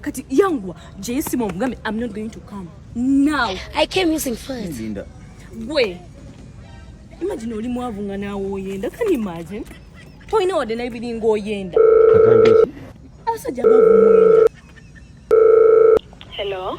kati yangwa jeyesima omugambe am not going to come now i came using first linda gwe imagine oli mwavu nga naawe oyenda can imagine tolina wadde nabiringa oyenda abasajja bavu muyenda hello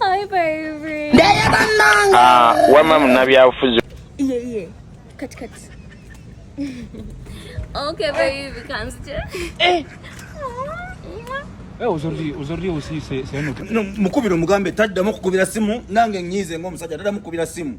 Hi baby. Daya bananga. Ah, wama munabyabufuzi. Iye iye. Kati kati. Okay baby, kanzi. Eh. mukubira omugambe taddamu okukubira simu nange nyiize ngaomusajja taddamu kukubira simu